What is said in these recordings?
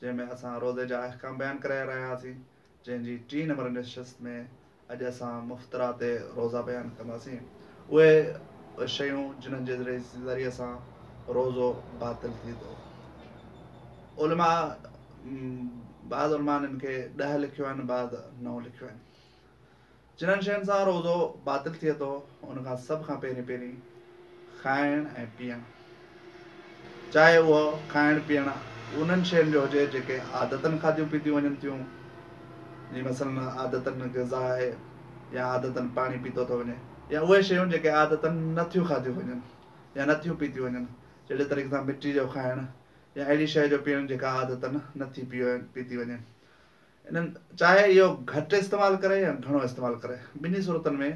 جنهن ۾ اسان روزي جا احڪام بيان ڪرائي رهيا هئاسين، جنهن جي ٽين نمبر نشست ۾ اڄ اسان مفطرا تي روزا بيان ڪنداسين، اهي شيون جنهن جي ذريعي سان روزو باطل ٿئي ٿو. علماء بعض علماء ان کي ڏهه لکيو آهن بعض نو لکيو آهن. جنھن شين سان روزو باطل ٿئي ٿو ان کان سڀ کان پهرين پهرين کائڻ ۽ پيئڻ چاهي اهو کائڻ پيئڻ انھن شين جو هجي جيڪي عادتن کاڌيون پيتيون وڃن ٿيون جي مثلا عادتن غذا آهي يا عادتن پاڻي پيتو ٿو وڃي يا اهي شيون جيڪي عادتن نه ٿيون کاڌيون وڃن يا نه ٿيون پيتيون وڃن جهڙي طريقي سان مٽي جو کائڻ يا اهڙي شيء جو پيئڻ جيڪا عادتن نه ٿي پيتي وڃي انهن چاهي اهو گهٽ استعمال ڪري يا گهڻو استعمال ڪري، ٻنهي صورتن ۾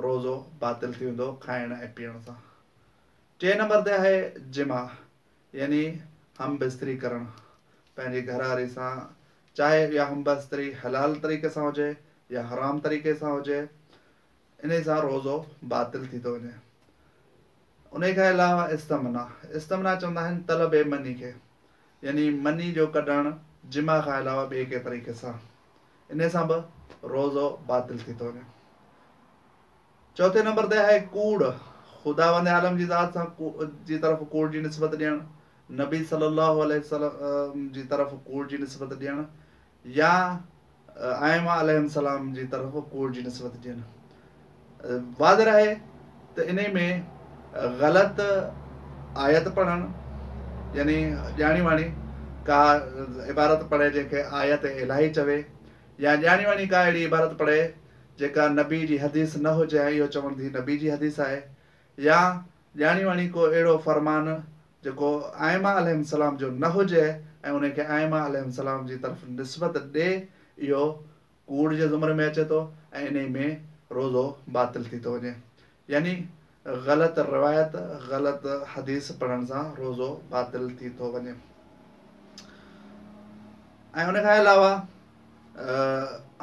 روزو باطل ٿي ويندو کائڻ ۽ پيئڻ سان. ٽئين نمبر تي آهي جماع يعني هم بستري ڪرڻ، پنهنجي گهرواري سان چاهي اها هم بستري حلال طريقي سان هجي يا حرام طريقي سان هجي، انهي سان روزو باطل ٿي ٿو وڃي. انهي کان علاوه استمنا، استمنا چوندا آهن طلب مني کي، يعني مني جو ڪڍڻ جماع کان علاوه ٻئي ڪنهن طريقي سان، انهي سان به روزو باطل ٿي ٿو وڃي. چوٿين نمبر تي آهي ڪوڙ، خداوند عالم جي ذات سان جي طرف ڪوڙ جي نسبت ڏيڻ، نبي صلي الله عليه وسلم جي طرف ڪوڙ جي نسبت ڏيڻ، يا ائمه عليهم السلام جي طرف ڪوڙ جي نسبت ڏين. واضح رهي ته انهي ۾ غلط آيت پڙهڻ يعني ڄاڻي واڻي ڪا عبارت پڙهي جنهن کي آيت الاهي چوي يا ڄاڻي واڻي ڪا اهڙي عبارت پڙهي جيڪا نبي جي حديث نه هجي ۽ اهو چوڻ ڌي نبي جي حديث آهي يا ڄاڻي واڻي ڪو اهڙو فرمان جيڪو ائمه عليهم السلام جو نه هجي ۽ انهي کي ائمه عليهم السلام جي طرف نسبت ڏي اهو ڪوڙ جي زمري ۾ اچي ٿو ۽ انهي ۾ روزو باطل ٿي ٿو وڃي يعني غلط روايت غلط حديث پڙهڻ سان روزو باطل ٿي ٿو وڃي ۽ ان کان علاوه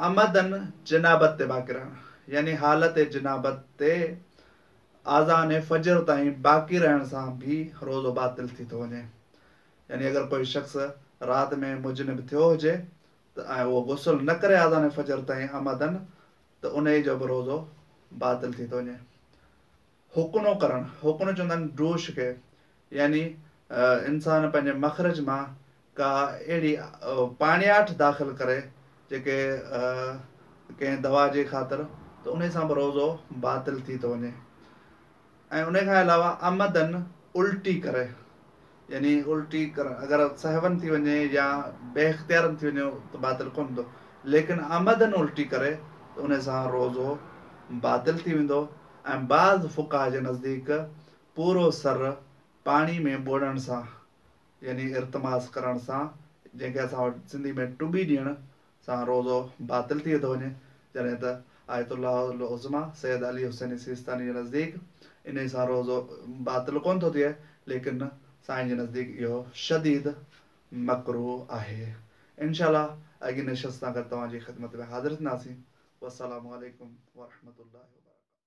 امدن جنابت تي باقران يعني حالت جنابت تي آذان فجر تائين باقي رهڻ سان به روزو باطل ٿي ٿو وڃي يعني اگر ڪوئي شخص رات ۾ مجنب ٿيو هجي ته ۽ اهو غسل نه ڪري آذان فجر تائين عمدن ته انهي جو به روزو باطل ٿي ٿو وڃي هڪنو ڪرڻ هڪنو چوندا آهن ڊوش کي يعني انسان پنهنجي مخرج مان ڪا اهڙي پاڻياٺ داخل ڪري جيڪي ڪنهن دوا جي خاطر ته انهي سان به روزو باطل ٿي ٿو وڃي ۽ انهي کان علاوه عمدن الٽي ڪري يعني الٽي ڪرڻ اگر سهون ٿي وڃي يا بي اختيارن ٿي وڃي ته باطل ڪونه ٿو ليڪن عمدن الٽي ڪري ته انهي سان روزو باطل ٿي ويندو ۽ بعض فقها جي نزديڪ پورو سر پاڻي ۾ ٻوڙڻ سان يعني ارتماس ڪرڻ سان، جنهن کي اسان وٽ سنڌي ۾ ٽٻي ڏيڻ سان روزو باطل ٿئي ٿو وڃي، جڏهن ته آيت الله العظميٰ سيد علي حسين سيستاني جي نزديڪ انهي سان روزو باطل ڪونه ٿو ٿئي، ليڪن سائين جي نزديڪ اهو شديد مڪروه آهي. انشاء الله اڳين نشست سان گڏ توهان جي خدمت ۾ حاضر ٿينداسين. والسلام عليڪم ورحمة الله وبرڪاته.